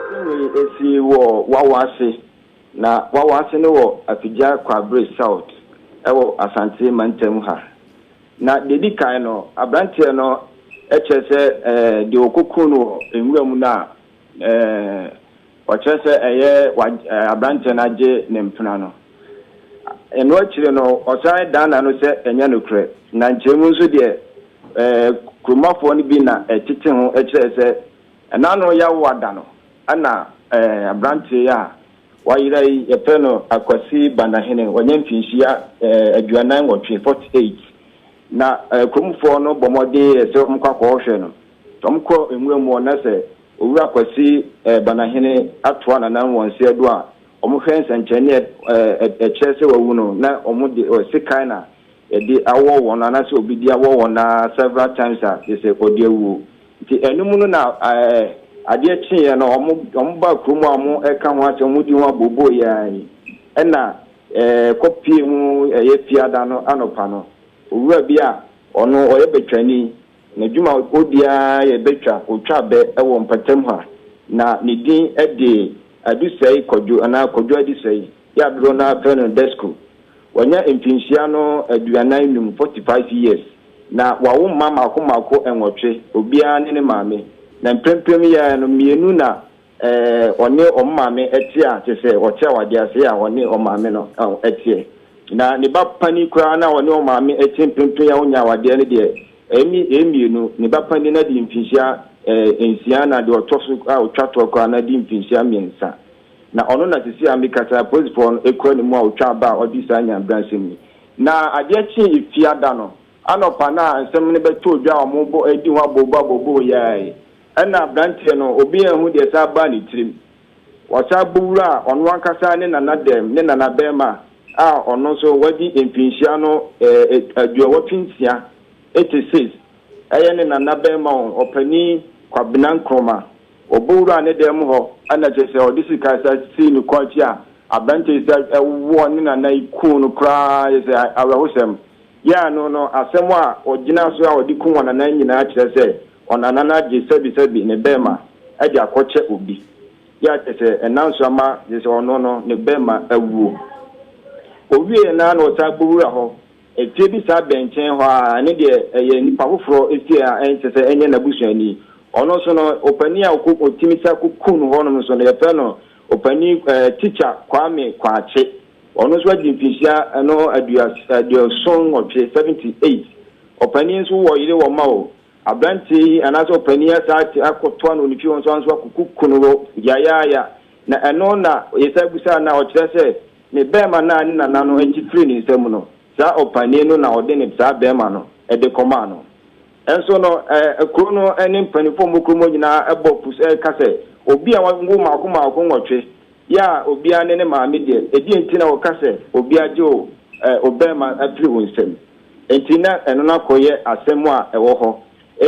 Singui si wɔ Wawase, na Wawase no wɔ Afigya Kwabre South wɔ Asante mantam ha. Na deɛ ɛdi kan no, aberanteɛ no kyerɛ sɛ deɛ wɔkɔkum no wɔ nwura mu no a Wɔkyerɛ sɛ ɛyɛ aberanteɛ no agye ne mpena no. Ɛno akyire no, ɔsan dan n'ano sɛ ɛnyɛ nokorɛ. Na nkyɛe mu nso deɛ, kuromafoɔ no bi na ɛtete ho kyerɛɛ sɛ n'ano yɛ awo ada no. Ɛna aberanteɛ yi a wayera yi, yɛfrɛ no Akwasi Banahene. Wanya mfinhyia aduanan nwɔtwe, 48. Na kuromfoɔ no bɔ mmɔden yɛɛ sɛ wɔkɔ akɔhwɛ no. Wɔkɔ nwura mu hɔ na sɛ Owura Kwasi Banahene atoa Nana Nwɔnse Adu a, wɔhwɛ nsɛnkyerɛnne a ɛkyerɛ sɛ wawu no na wɔde sekan na yɛde awɔ wɔn anaasɛ obi de awɔ wɔn na several times a kyerɛ sɛ ɔde awu. Nti ɛno mu no na adeɛ kyeeɛ no wɔbaa kuro mu a wɔreka ho asɛm, wɔdi ho aboobooyɛ ara yi na ɛkɔpuee mu ɛyɛ fiada no anɔpa no. Owura bi a ɔno ɔyɛ Betwani Ne dwumakuo biara yɛ bɛtwa otwa bɛ wɔ mpatam ha, na ne din de Adusɛe Kwadwo anaa Kwadwo Adusɛe, yɛ a dodoɔ no ara frɛ no Desco. Wanya mfinhyia no aduanan num, 45 years, na wawo mma mmaako mmaako nwɔtwe, obiara ne ne maame, na mprempren yɛ a no mmienu na Ɛɛ, ɔne wɔn maame te a, te sɛ ɔte awadeɛ ase a ɔne wɔn maame no teɛ. Na ne ba panin koraa no a ɔne wɔn maame te mprempren a ɔnnya awadeɛ no deɛ, ɛne yɛn mmienu, ne ba panin no adi mfinhyia nsia na deɛ ɔtɔ so a ɔtwa toɔ koraa no adi mfinhyia mmiɛnsa. Na ɔno na seesei a mekasa yi polisifoɔ no kura ne mu a ɔtwa aba a ɔde saa nyamebransɛm yi. Na adeɛ kyee Efiada no anɔpa no a nsɛm no bɛtɔɔ dwa a wɔredi ho abooboo abooboo yi ara yi, Ɛnna aberanteɛ no, obi anhu deɛ ɛsan baa ne tirim. Wasan bɔ wura a ɔno ankasa ne nana dɛm ne nanabarima a ɔno nso wadi mfinhyia no aduɔwɔtwe nsia, 86, ɛyɛ ne nanabarima o, ɔpanin Kwabena Nkrumah. Ɔbɔ wuraa ne dɛm hɔ, ɛnna kyerɛ sɛ ɔde sika san sii ne kɔn akyi a aberanteɛ yi san wɔɔ ne nana yi kuu no koraa, kyerɛ sɛ awerɛhosɛm. Yɛn ano no, asɛm a ɔgyinaa so a ɔde kum wɔn nana nyinaa kyerɛ sɛ Ɔnanan agye sɛbisɛbi ne bɛɛma de akɔkyɛ obi. Yɛ a kyerɛ sɛ ɛna nso ama gye sɛ ɔno no ne bɛɛma awuo. Ɔwieɛ no ara na ɔsan kɔwura hɔ. Ɛfie bi saa bɛn nkyɛn hɔ ara, ɛno deɛ ɛyɛ nipa foforɔ fie a ɛnsɛ sɛ ɛnyɛ n'abusuani. Ɔno nso no, opanin a ɔkɔ ɔtumi san kɔku no hɔnom nso no, yɛfrɛ no Opanin ɛɛ Tikya Kwame Kwakye. Ɔno nso adi mfinhyia ɛno aduas aduoson nwɔtwe, 78. Ɔpanin nso wɔ yere wɔ mma o. Aberanteɛ yi anaasɛ ɔpanin yi asan ate akɔtoa no ne fie hɔ nso anso akɔkuku no hɔ yayaaya. Na ɛno na Yesaia bisaa no a ɔkyerɛ sɛ ne bɛɛma no a ne nana no gye firii ne nsam no, saa ɔpanin no na ɔde ne saa bɛɛma no de kɔmaa no. Nso no, ɛɛ, kuro no ne mpanimfoɔ a wɔwɔ kurom hɔ nyinaa bɔ apu so reka sɛ, Obi a wɔwo mmaako mmaako nwɔtwe, Yɛ a obia ne ne maame deɛ ɛdeɛn nti na woka sɛ obia gye wo obɛɛma afiri wo nsam nti na ɛno no akɔ yɛ asɛm a ɛwɔ hɔ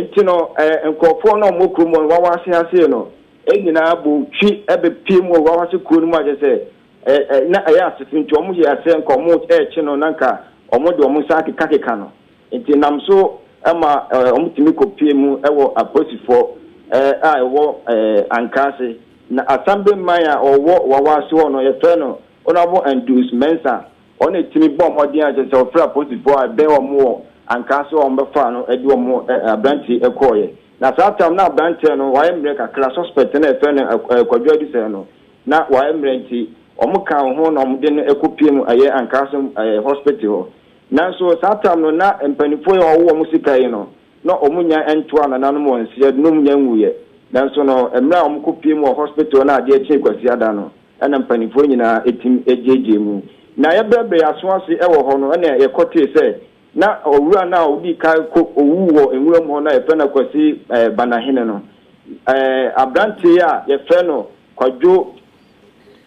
nti no nkorɔfoɔ no a wɔwɔ kurom hɔ no wawase hasee no nyinaa bɔ twi bɛ pie mu wɔ wawase kuro no mu akyɛ sɛ na ɛyɛ asefo nti wɔn yɛ sɛ nka wɔn ɛɛkye no na nka wɔn de wɔn nsa akeka keka no. Enti ɛnam so ma wɔtumi kɔpuee mu wɔ apolisifoɔ a ɛwɔ Ankaase. Na Asambe man a ɔwɔ Wawase hɔ no, yɛfrɛ no Honourable Andrews Mensah, ɔno na ɛtumi bɔɔ mmɔden a kyerɛ sɛ ɔfrɛɛ apolisifoɔ a ɛbɛn wɔn wɔ Ankaase hɔ a wɔbɛfaa no de wɔn aberanteɛ yi kɔeɛ. Na saa tam na aberanteɛ no wayɛ mmerɛ kakra, suspect no a yɛfrɛ no Kwadwo Adusɛe no, na wayɛ mmerɛ nti wɔkaa ho na wɔde no kɔpuee mu ɛyɛ Ankaase hospital hɔ. Nanso saa tam no na mpaninfoɔ yi a wɔwo wɔn sika yi no na wɔn nya ntoaa nananom wɔn srɛ de na wɔn nya nwuiɛ. Nanso no mmerɛ a wɔn kɔ pue mu wɔ hospital na adeɛ kyee kwasiada no na mpaninfoɔ nyinaa tim gyeegyee mu. Na yɛ brɛ brɛ yɛ aso ase wɔ hɔ no na yɛ kɔ tee sɛ na owura no a ɔdii kan kɔ owuu wɔ nwura mu hɔ no a yɛ frɛ no Kwasi Banahene no ɛɛ abranteɛ yi a yɛ frɛ no Kwadwo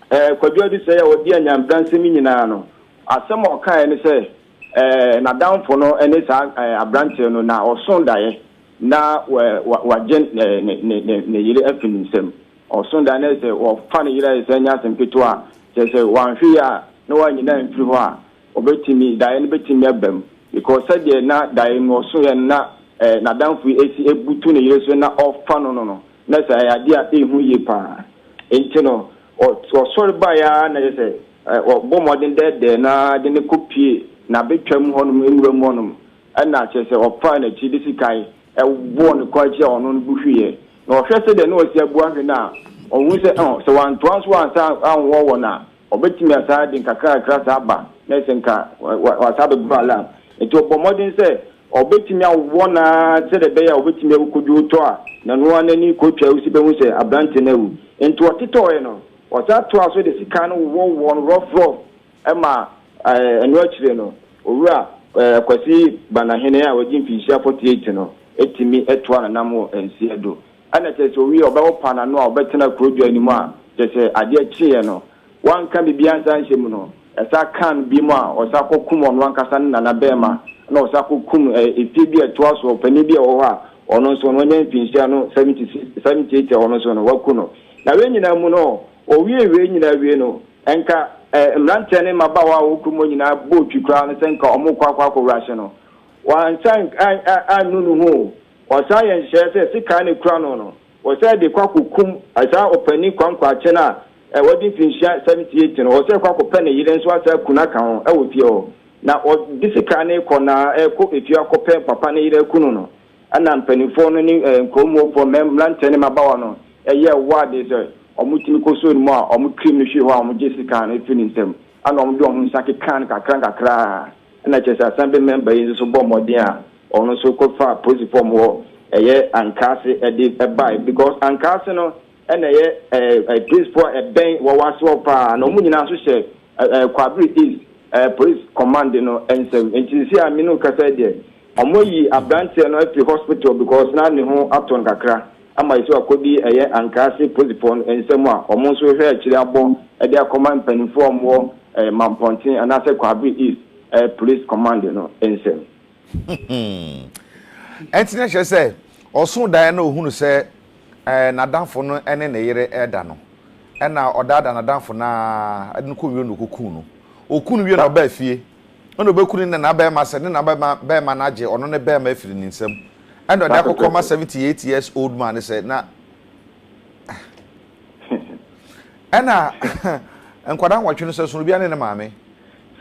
Eh, Kwadwo Adesɛe a ɔdi Anyampra nsɛm yi nyinaa no, asɛm a ɔkaeɛ ne sɛ eh, n'adamfo no ne saa eh, aberanteɛ no na ɔso daeɛ na wa, wagye ne, ne, ne, ne, ne yere afi ne nsam. Ɔso daeɛ na sɛ wɔfa ne yere ayɛ sɛ ɛnyɛ asɛm ketewa a, kyerɛ sɛ wanhwɛ yie a na wanyina amfiri hɔ a, ɔbɛtumi, daeɛ no bɛtumi aba mu. Because sɛdeɛ na daeɛ no ɔsoeɛ no na eh, n'adamfo yi asi abutu ne yere so na ɔrefa no no no, Na sɛ ayɛ adeɛ a ɛnhu yie pa ara nti no, ɔsɔre baeɛ ara na kyerɛ sɛ ɔbɔ mmɔden dɛɛdɛɛ no ara de no kɔpue n'abɛtwa mu hɔnom, nwura mu hɔnom, ɛna kyerɛ sɛ ɔfaa n'akyi de sikae bɔɔ ne kɔn akyi a ɔno no bu hweeɛ. Na ɔhwɛ sɛdeɛ na ɔsi abu ahwe no a, ɔhunu sɛ, ɔh, sɛ wantoa nso ansa anwɔ wɔn a, Ɔbɛtumi asan de nkakrankakra saa aba na ayɛ sɛ nka wasan abɛboro alarm. Enti ɔbɔ mmɔden sɛ ɔbɛtumi awɔ no ara sɛdeɛ ɛbɛyɛ a ɔbɛtumi awu kɔdwo wo tɔ a, na ɛno ara n'ani kɔtwa wusi bɛhu sɛ aberanteɛ no awu. Enti ɔtetɔeɛ no, ɔsan toaa so de sekan no wowɔwowɔɔ no rɔfrɔf ma ɛno akyire no, Owura Kwasi Banahene a wagye mfirinhyia 48 no tumi toa n'anam wɔ nseɛ do Ɛna kyerɛ sɛ owie a ɔbɛho paa n'ano a ɔbɛtena kuro dwa no mu a kyerɛ sɛ adeɛ kyeeɛ no wanka biribiara ansa anhyɛ mu no ɛsan kaa no biom a ɔsan kɔ kum ɔno ankasa ne nana bɛɛma na ɔsan kɔ kum ɛ efie bi a ɛtoa so ɔpanin bi a ɛwɔ hɔ a ɔno nso no wanya mfinhyia no 70 70 80 a ɔno nso no waku no na wei nyinaa mu no ɔwie wei nyinaa wie no ɛnka ɛ mmeranteɛ ne mmabaawa a ɔwɔ kurom nyinaa bɔɔ twi koraa no sɛ nka ɔmo kɔ akɔ akɔwura hye no wansan annu ne ho o. Ɔsan yɛ nhyehyɛɛ sɛ sekan a ekura no no, ɔsɛ de kɔ akokum saa ɔpanyin kwankwaakye no a wadi mfinhyia seventy eight no, ɔsɛ kɔ akɔpɛ ne yere nso asan aku no aka ho wɔ fie hɔ. Na ɔde sekan no rekɔ na ɛrekɔ efie akɔpɛ papa ne yere aku no no, ɛna mpanimfoɔ no ne nkurɔmufoɔ, mmeranteɛ ne mmabaawa no yɛ wɔ adeɛ sɛ wɔtumi kɔsoo ne mu a wɔkirim no hwee hɔ a wɔgye sekan no firi ne nsam, ɛna wɔde wɔn nsa kekaa no kakra nkakra, ɛna kyerɛ sɛ Assembly member yi nso bɔɔ mmɔden a Ɔno nso kɔ faa polisi fɔm hɔ ɛyɛ ankaase ɛde ɛbae because ankaase no ɛna ɛyɛ ɛɛ polisi fɔ a ɛbɛn wawase hɔ paa na ɔmo nyinaa nso hyɛ ɛɛ kwabere east ɛɛ polisi kɔmande no nsam nti sisi a mene kasa yi deɛ ɔmo ayi abranteɛ no afiri hospital because na ne ho atɔ no kakra ama yɛsi wakɔdi ɛyɛ ankaase polisi fɔ no nsam a ɔmo nso rehwɛ akyire abɔ ɛde akɔma mpaninfoɔ a ɔmo wɔ ɛɛ mampɔnten anaasɛ kwabere east ɛɛ polisi kɔmande no nsam. Ɛnti na kyerɛ sɛ ɔsoo daeɛ na ɔhunu sɛ n'adamfo no ne ne yere reda no, ɛna ɔdaadaa n'adamfo no ara de no kɔɔ nwura mu na ɔkɔkuu no. Ɔkuu no wie na ɔbaa fie, ɛna ɔbɛku ne nana barima sɛ ne nana barima no agye ɔno ne barima afiri ne nsam. Ɛna ɔde akɔkɔma 78 years old man no sɛ na Ɛna nkwadaa nwɔtwe no sɛ sono obiara ne ne maame.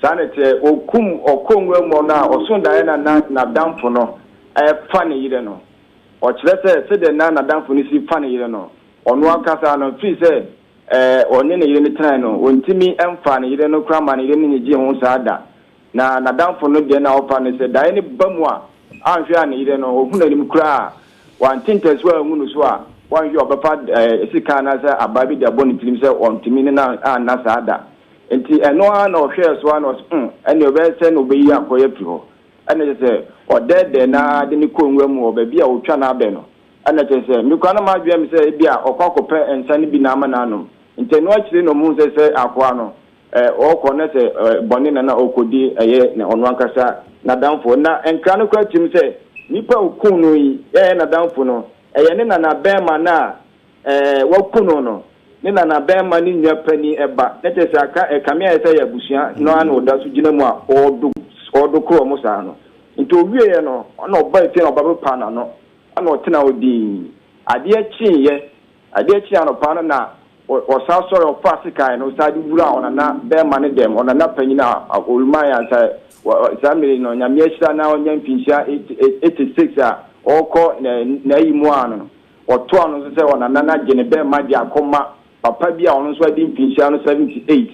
Saa na ɛteɛ. Wɔkum ɔkɔnnwa mu no a, ɔso daeɛ na na n'adamfo no fa ne yere no. Ɔkyerɛ sɛ sɛdeɛ na n'adamfo no si fa ne yere no, ɔno ankasa no, firi sɛ ɔne ne yere no tenae no, ɔntumi mfaa ne yere no koraa maa ne yere no nnyegyee ho saa da. Na n'adamfo no deɛ na ɔfa no sɛ daeɛ no ba mu a, anhwɛ a ne yere no, ɔhu n'anim koraa a, wante ntasu angu no so a, wanhwɛ a ɔbɛfa sekan anaasɛ abaa bi de abɔ ne tirim sɛ ɔntumi ne no anna saa da. Enti ɛno ara na ɔhwɛɛ so ara na ɔse, Humm, ɛnneɛ ɔbɛyɛ sɛn na ɔbɛyi akɔe afiri hɔ? Ɛnna kyerɛ sɛ, ɔdɛɛdɛɛ no ara de no kɔɔ nwura mu wɔ baabi a ɔtwa no abɛ no. Ɛnna kyerɛ sɛ, me koraa na madwene sɛ ebia ɔkɔ akɔpɛ nsã no bi na ama no anom. Enti ɛno akyiri na ɔhuu sɛ sɛ akoa no, Ɛ, ɔɔkɔ na sɛ ɛ, bɔne na na ɔɔkɔdi, ɛyɛ na ɔno ankasa n'adamfoɔ. Na nkra no koraa tirim sɛ, nipa a ɔkuu no yi, ɛyɛ n'adamfo no, ɛyɛ ne nanabɛɛma no a, ɛ, waku no no, ne nanabɛɛma ne nua panin ba, na kyerɛ sɛ aka, ɛ, kame a ɛyɛ sɛ ɛyɛ abusua no ara na ɔda so gyina mu a ɔɔdo, ɔɔdo koro wɔn saa no. Nti ɔwieeɛ no, na ɔbaa fie na ɔba bɛpaa n'ano, ɛna ɔtenaa hɔ dinn. Adeɛ kyeeɛ, Adeɛ kyee anɔpa no na ɔsan sɔre ɔfaa sekan no san de wuraa ɔnana bɛɛma no dɛm, ɔnana panyin a ɔreman yɛ ansa saa mmere yi no, Nyame ahyira na ɔnya mfinhyia eighty six a ɔrekɔ n'ayi mu ano no, ɔtoaa no nso sɛ ɔnana no agye ne bɛɛma de akɔ ma papa bi a ɔno nso adi mfinhyia no seventy eight.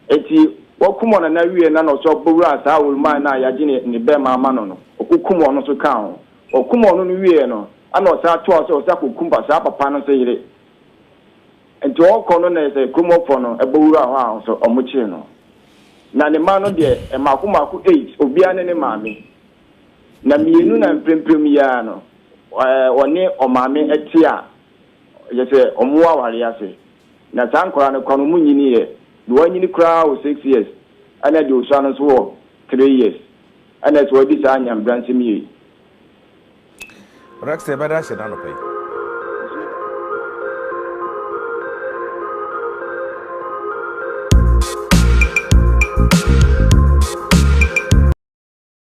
Enti wakum ɔnana wiee na na ɔsan bɛwuraa saa ɔreman no a yɛagye ne bɛɛma ama no no, ɔkokum ɔno nso kaa ho. Ɔkum ɔno no wieɛ no ɛna ɔsan toa so sɛ ɔsan kɔ kum saa papa no nso yere. Nti ɔɔkɔ no na sɛ kurom hɔfoɔ no bɔ wuraa hɔ a nso ɔmo kyee no. Na ne mma no deɛ mmaako mmaako eight obiara ne ne maame. Na mmienu na mpremprem yi ara no ɔne ɔmaame te a kyerɛ sɛ ɔmo wɔ awareɛ ase. Na saa nkwadaa no koraa no ɔmo nyiniiɛ. Deɛ wanyini koraa wɔ six years ɛna deɛ ɔsua no nso wɔ three years. Ɛna ɛsɛ wɔdi saa nyamebransɛm yie. Rex yɛbɛda ahyɛ no anɔpa yi.